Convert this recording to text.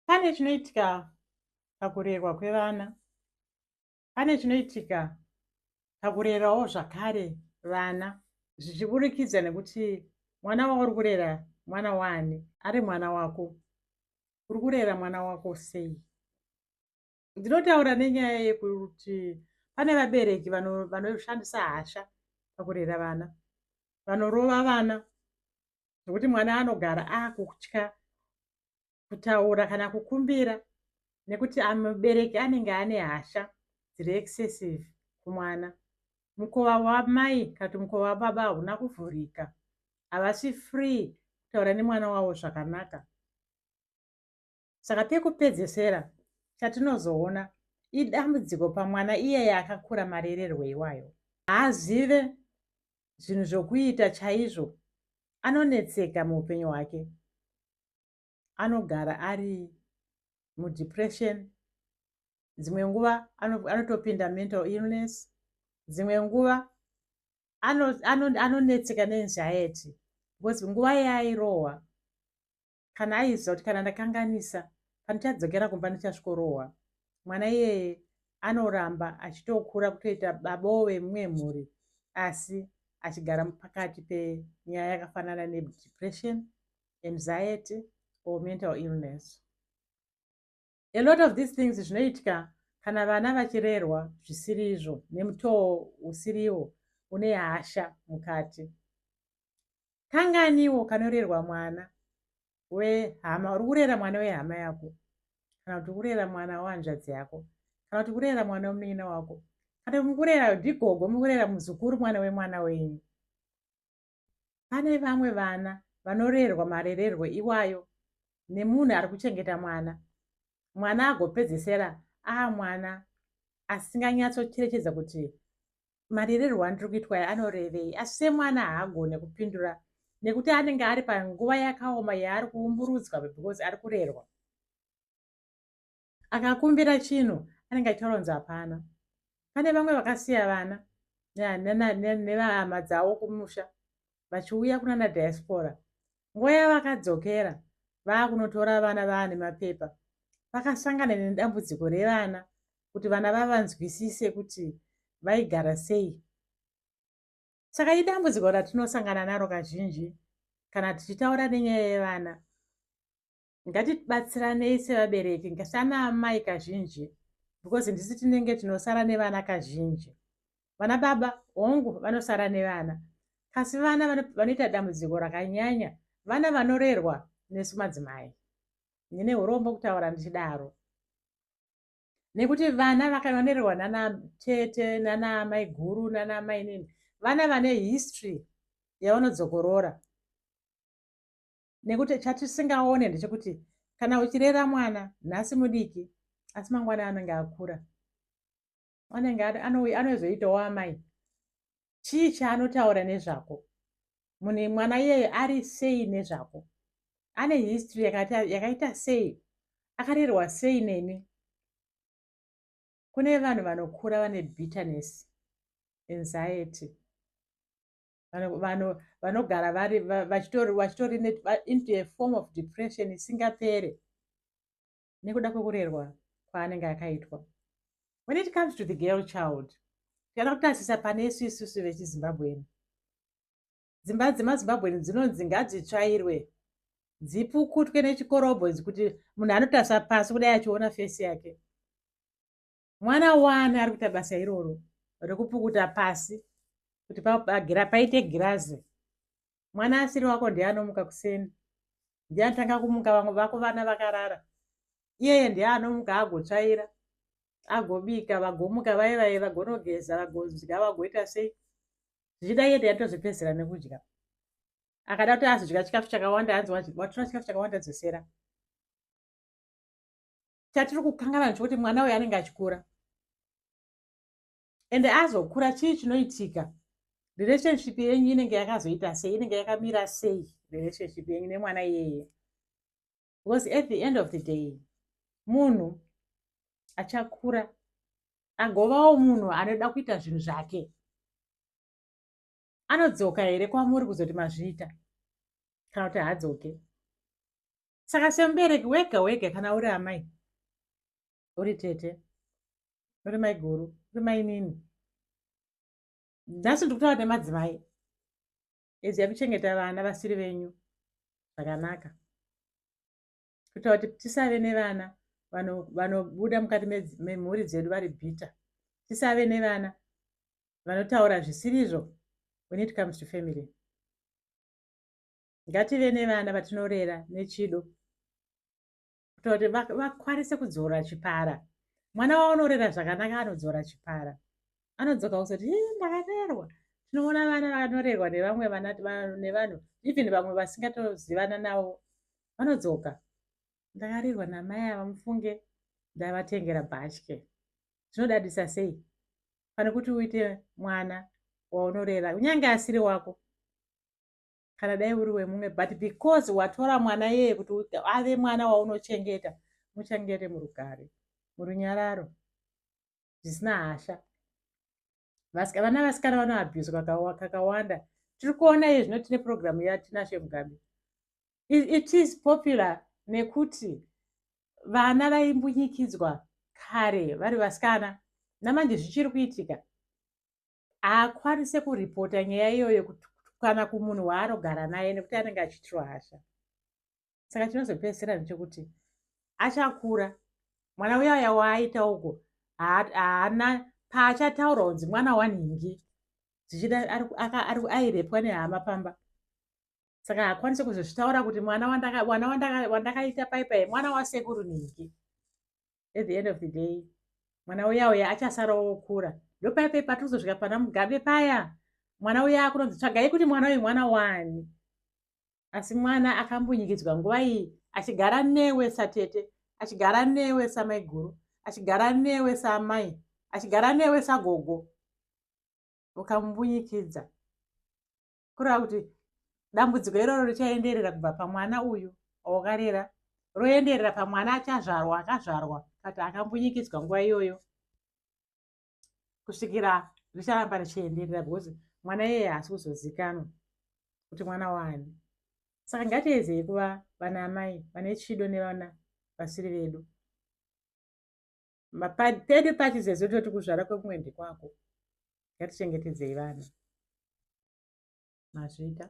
pane chinoitika pakurerwa kwevana pane chinoitika pakurerawo zvakare vana zvichiburikidza nekuti mwana wauri kurera mwana waani ari mwana wako uri kurera mwana wako sei ndinotaura nenyaya yekuti pane vabereki vanoshandisa hasha pakurera vana vanorova vana zvekuti mwana anogara akutya kutaura kana kukumbira nekuti mubereki anenge ane hasha dziri excessive kumwana mukova wamai kana kuti mukova wababa hauna kuvhurika havasi free kutaura nemwana wavo zvakanaka saka pekupedzesera chatinozoona idambudziko pamwana iyeye akakura marererwo iwayo haazive zvinhu zvokuita chaizvo anonetseka muupenyu hwake anogara ari mudepression dzimwe nguva anotopinda mental illness dzimwe nguva anonetseka ano, ano neenziety because nguva yaairohwa kana aiziva kuti kana ndakanganisa pandichadzokera kumba ndichasvikorohwa mwana iyeye anoramba achitokura kutoita baboo vemumwe mhuri asi achigara pakati penyaya yakafanana nedepression anxiety or mental illness a lot of these things zvinoitika kana vana vachirerwa zvisiri izvo nemutoo usiriwo une hasha mukati kanganiwo kanorerwa mwana wehama uri kurera mwana wehama yako kana kuti kurera mwana wehanzvadzi yako kana kuti kurera mwana wemunin'ina wako kana mukurera ndigogo mukurera muzukuru mwana wemwana wenyu Pane vamwe vana vanorerwa marererwo iwayo nemunhu ari kuchengeta mwana, mwana agopedzesera aa mwana asinganyatsocherechedza kuti marererwo andiri kuitwa aya anorevei, asi semwana haagone kupindura nekuti anenge ari panguva yakaoma yaari kuumburudzwa because ari kurerwa. akakumbira chinhu anenge achitoronza hapana pane vamwe vakasiya vana nevahama dzavo kumusha vachiuya kunana diaspora nguva yavakadzokera vaakunotora vana vaane mapepa vakasangana nedambudziko revana kuti vana vavanzwisise kuti vaigara sei saka idambudziko ratinosangana naro kazhinji kana tichitaura nenyaya yevana ngatibatsiranei sevabereki ngasana amai kazhinji because ndisi tinenge tinosara nevana kazhinji vana baba hongu vanosara nevana kasi vana vanoita dambudziko rakanyanya vana vanorerwa nesu madzimai ndine urombo kutaura ndichidaro nekuti vana vakavanererwa nana tete nana mai guru nana mai nini vana vane history yavanodzokorora nekuti chatisingaone ndechekuti kana uchirera mwana nhasi mudiki asi mangwana anenge akura anenge anozoitawo amai chii chaanotaura nezvako munhu mwana iyeyo ari sei nezvako ane history yakaita sei akarerwa sei nemi kune vanhu vanokura vane bitterness anxiety vanogara vari vachitori into a form of depression isingapere nekuda kwekurerwa kwaanenge akaitwa when it comes to the girl child tikaenda kutarisa pane isu isusu vechizimbabweni dzimba dzemazimbabweni dzinonzi ngadzitsvairwe dzipukutwe nechikorobho kuti munhu anotarisa pasi kudai achiona fesi yake mwana wani ari kuita basa iroro rekupukuta pasi kuti paite girazi mwana asiri wako ndiye anomuka kuseni ndiye anotanga kumuka vamwe vako vana vakarara iyeye ndiye anomuka agotsvaira agobika vagomuka vaye vaye vagonogeza vagodya vagoita sei zvichida iye ndiye atozvipedzera nekudya akada kuti azodya chikafu chakawanda anzi watora chikafu chakawanda dzosera chatiri kukangana nacho kuti mwana uyo anenge achikura ende azokura chii chinoitika relationship yenyu inenge yakazoita sei inenge yakamira sei relationship yenyu nemwana iyeye because at the end of the day munhu achakura agovawo munhu anoda kuita zvinhu zvake anodzoka here kwamuri kuzoti mazviita kana kuti haadzoke saka semubereki wega wega kana uri amai uri tete uri maiguru uri mainini nhasi ndikutaura nemadzimai eziyai kuchengeta vana vasiri venyu zvakanaka kuita kuti tisave nevana vanobuda mukati memhuri dzedu vari bhitter tisave nevana vanotaura zvisirizvo when it comes to family ngative nevana vatinorera nechido kuita kuti vakwanise kudzora chipara mwana waunorera zvakanaka anodzora chipara anodzoka kusati ndakarerwa tinoona vana vanorerwa nevamwe vana nevanhu even vamwe vasingatozivana navo vanodzoka ndakarirwa namai ava mufunge ndavatengera bhatye zvinodadisa sei pane kuti uite mwana waunorera kunyange asiri wako kana dai uri wemumwe but because watora mwana yeye kuti ave mwana waunochengeta muchengete murugare murunyararo zvisina hasha vana vasikana vanoabhuzwa kakawanda tiri kuona iye zvino tine purogiramu yatinashe mugabe it is popular nekuti vana vaimbunyikidzwa kare vari vasikana namanje zvichiri kuitika haakwanise kuripota nyaya iyoyo kana kumunhu waanogara naye nekuti anenge achiitirwa hasha saka chinozopedzisira ndechekuti achakura mwana uya uya waaita uko haana paachataura kunzi mwana wanhingi zvichida airepwa nehama pamba saka haakwanise kuzozvitaura kuti mwana wandakaita paipai mwana wasekuru nhingi at the end of the day mwana uya uya achasarawo okura ndopaipai patozosvika pana mugabe paya mwana uya akunonzi tsvagai kuti mwana uyu mwana wani asi mwana akambunyikidzwa nguva iyi achigara newe satete achigara newe samaiguru achigara newe saamai achigara newe sagogo ukamubunyikidza kureva kuti dambudziko iroro richaenderera kubva pamwana uyu aukarera roenderera pamwana achazvarwa akazvarwa kati akambunyikidzwa nguva iyoyo kusvikira richaramba richienderera because mwana iyeye haasi kuzozikanwa kuti mwana waani saka ngatiedzei kuva vana amai vane chido nevana vasiri vedu pedu pachizezo toti kuzvara kwekumwe ndekwako ngatichengetedzei vana mazvita